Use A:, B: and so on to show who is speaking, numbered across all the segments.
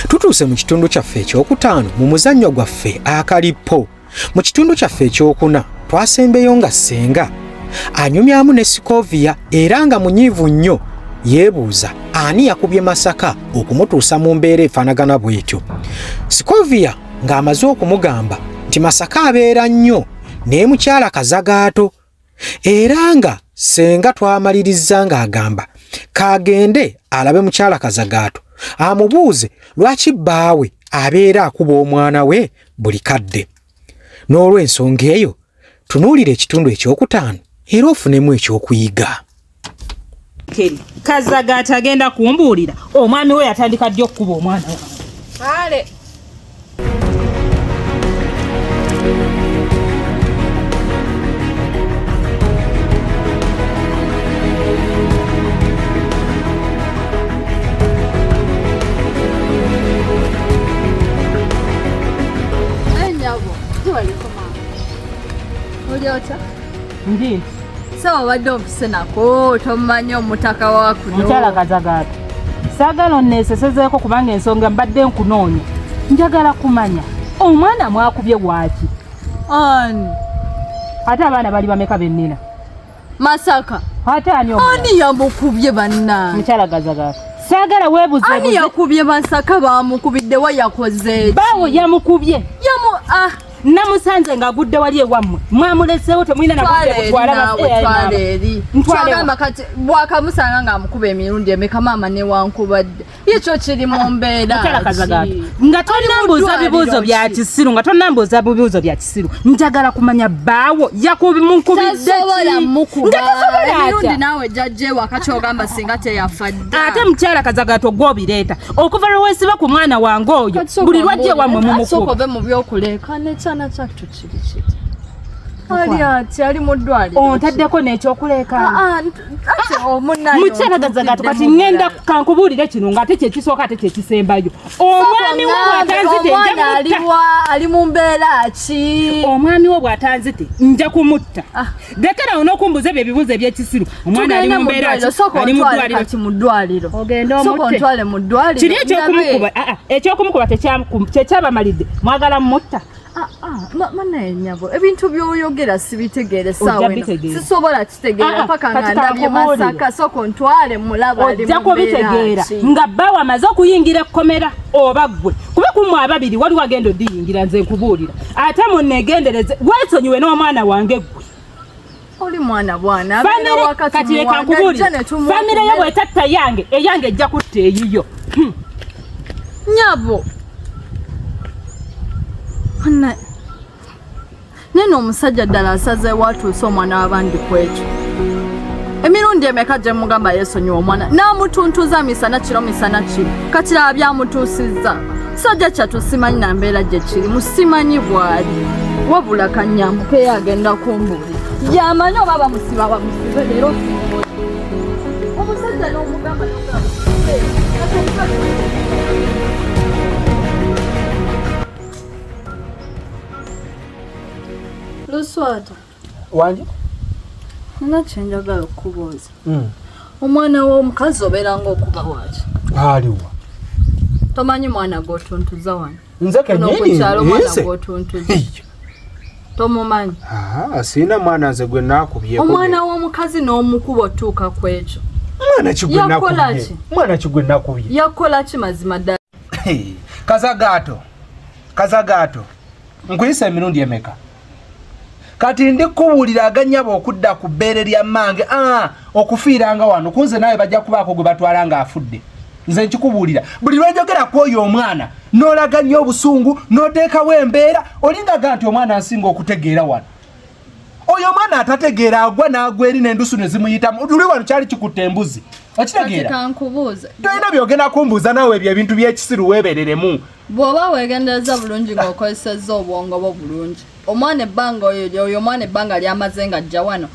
A: tutuuse mu kitundu kyaffe ekyokutaano mu muzannyo gwaffe akalippo mu kitundu kyaffe ekyokuna twasembeyo nga ssenga anyumyamu ne sikoviya era nga munyiivu nnyo yeebuuza ani yakubye masaka okumutuusa mu mbeera efaanagana bw'etyo sikoviya ng'amaze okumugamba nti masaka abeera nnyo naye mukyala kazagaato era nga senga twamalirizza ng'agamba kaagende alabe mukyala kazagaato amubuuze lwaki bbaawe abeera akuba omwana we buli kadde n'olw'ensonga eyo tunuulira ekitundu ekyokutaano era ofunemu ekyokuyiga keri
B: kazaga atagenda kumbuulira omwami we yatandika ddi okukuba omwana wange
C: Ndi. Sawa wadde omfise nako tomanyi omutaka wa kuno. Mukyala kazagaata.
B: Saagala onneesesezeeko kubanga ensonga mbadde nkunoonya. Njagala kumanya omwana mwakubye waaki? Ani? Ate abaana bali bameka be nnina? Masaka.
C: Ate ani omwana?
B: Ani yamukubye
C: banna? Mukyala gazagaata.
B: Saagala weebuze. Ani yakubye
C: Masaka baamukubidde wa yakoze? Bawo yamukubye.
B: Yamu ah. namusanze nga agudde wali ewammwe mwamuleseewo temulina nakutwalagamba
C: kati bwakamusanga nga amukuba emirundi emeka maama newankubadde yekyo kiri mu mbeeranga
B: tonambuuza bibuuzo bya kisiru nga tonambuuza bibuuzo bya kisiru njagala kumanya baawo yakubimukubiddeki
C: nga tosobola emirundi naawe jajjewa kati ogamba singa teyafadde ate mukyala kazagato
B: gwobireeta okuva lwe weesiba ku mwana wange oyo buli lwajje wamwe mumukuove mu byokuleeka
C: nekyana kyattu kiri kiti ali ati ali mu ddwaliro ontaddeko n'ekyokuleeka
B: ah, ah, oh, mukyala gazagato kati ngenda kankubuulire kino ng'ate kyekisooka ate kyekisembayo omwami wo bwatanzite ali
C: mu mbeera ki omwami wo bwatanzite
B: nja kumutta ah. Dekera ono kumbuze bye bibuze bye kisiru. Omwana ali mu mbera ali mu dwaliro ki mu
C: dwaliro. Ogenda omutte. Soko ntwale
B: mu dwaliro.
C: Kiri ekyo kumukuba.
B: Ah ah ekyo kumukuba tekyam tekyaba malide. Mwagala mutta. Ah ah mana
C: nyabo. Ebintu byoyogera sibitegere sawe. Sisobola kitegera ah, ah, paka nganda bye masaka soko ntwale mulaba ali mu mbera. Jako bitegera. Nga
B: bawa mazo kuyingira komera obagwe. Kuba kumwa ababiri wali wagendo diyingira nze kubulira. ate munegendereze wesonyiwe n'omwana wange gwe oli
C: mwana bwana kati leka
B: nkubulire famire yo bwetatta yange eyange ejja kutta eyiyo hmm. nyabo
C: nene omusajja ddala asaze watuuse omwana wabandi kwekyo emirundi emeka gye mugamba yesonyiwa omwana n'amutuntuza misana kiro misana kiro kati laba byamutuusizza kisajja kyattu simanyi na mbeera gye kirimu simanyi bwali wabula kanyambukeyo agenda kumbuuli yamanyi oba bamusiba bamusibe leero omusajja n'omugamba luswata
A: wangi
C: nina kyenjagala okukubuuza hmm. omwana w'omukazi obeeranga okuba waaki aliwa tomanyi mwana gwotuntuza wano nze kenyinikyalo
A: mwana
C: gwotuntuza tomumanyi
A: sirina mwana nze gwe nakubye omwana w'omukazi
C: n'omukuba otuuka ku ekyo mwana kigwe
A: nakubye yakukola ki mazima
C: ddala kazagaato
A: kazagaato nkuyisa emirundi emeka kati ndi kuwulira aganyaba okudda ku bbeere lya mmange ah, okufiiranga wano kunze naawe bajja kubaako gwe batwala ng'afudde nze nkikubuulira buli lwenjogera ku oyo omwana n'olaga nnyo obusungu n'oteekawo embeera olingaga nti omwana nsinga okutegeera wano oyo omwana atategeera agwa n'agwa eri n'endusu ne zimuyitamu luli wano kyali kikutte embuzi okitegeera tolina byogenda kumbuuza naawe ebyo ebintu by'ekisiru weebereremu bw'oba weegendereza
C: bulungi ng'okozesezza obwongo bwo bulungi omwana ebbanga oyo omwana ebbanga lyamaze nga jja wano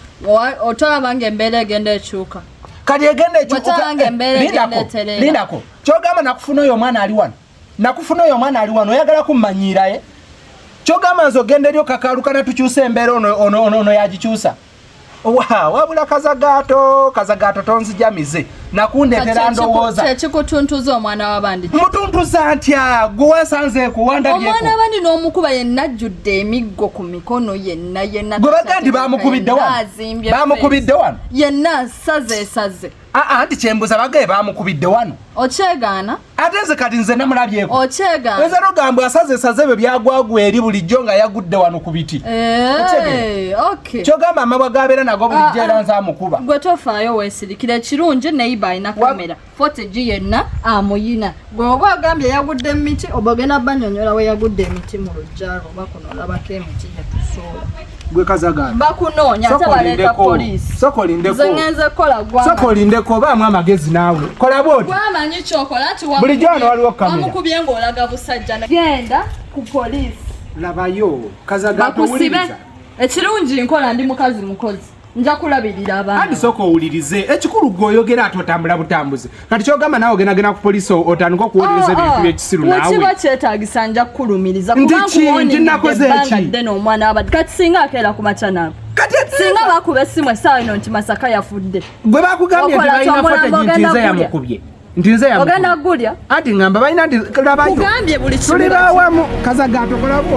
C: otolaba nga embeera egenda ekyuka kati egenda
A: ekyukalindako kyogamba nakufuna oyo omwana ali wano nakufuna oyo omwana ali wano oyagala kummanyiiraye kyogamba nze ogenda eri okakaalukana tukyusa embeera ono yagikyusa wabula kazagato kazagato tonzija mize
D: nakundetera ndowooza kikutuntuza omwana
C: wabandi mutuntuza ntya
D: gwewasanze kuwandaomwana wabandi n'omukuba
C: yenna ajjudde emiggo ku mikono yenna yenna gwe baga nti
D: bamukubidde wano bamukubidde wano yenna
C: asaze esaze aa nti kyembuza
D: bagaye bamukubidde wano okyegaana
C: ate nze kati nze
D: namulabyeko okyega nze nogamba
C: asaze
D: saze byo byagwagwa eri bulijjo nga yagudde wano ku biti eh, kyogamba amabwa gabeera nago bulijjo ah, era ah. nze amukuba gwe tofaayo
C: weesirikira ekirungi neyiba alina kamera fotegi yenna amuyina gwe oba agambye yagudde mu miti oba ogenda banyonyola we yagudde emiti mu lujjalo oba kuno olabako emiti gyetusuula gwe kazagala
D: bakunoonya ate
C: baleeta poliisi soka olindeko nze ngenze kukola gwa soka olindeko obaamu
D: amagezi naawe kola bwoti wamanyi kyokola nti
C: bulijjo wano waliwo kamera
D: wamukubye ng'olaga
C: busajja genda ku poliisi labayo
D: kazagala towuliriza ekirungi
C: nkola ndi mukazi mukozi nja kulabirira abaana andi sooka owulirize
D: ekikulu gwe oyogera ati otambula butambuzi kati kyogamba naawe ogendagenda ku polisi otandika okuwolereza ah, ebintu ah. byekisiru nawekiba kyetagisa
C: nja kukulumiriza kubankuwoniddebbanga
D: omwana wabadde
C: kati singa akeera ku macanaabo singa bakuba essimu essaawa ino nti masaka yafudde gwe bakugambye nti
D: balina fota gintinza yamukubye nti nze ogenda gulya ati
C: ngamba balina
D: nti labayo
C: ugambye
D: buli kimu tuli bawamu
C: kazaga
D: atokolako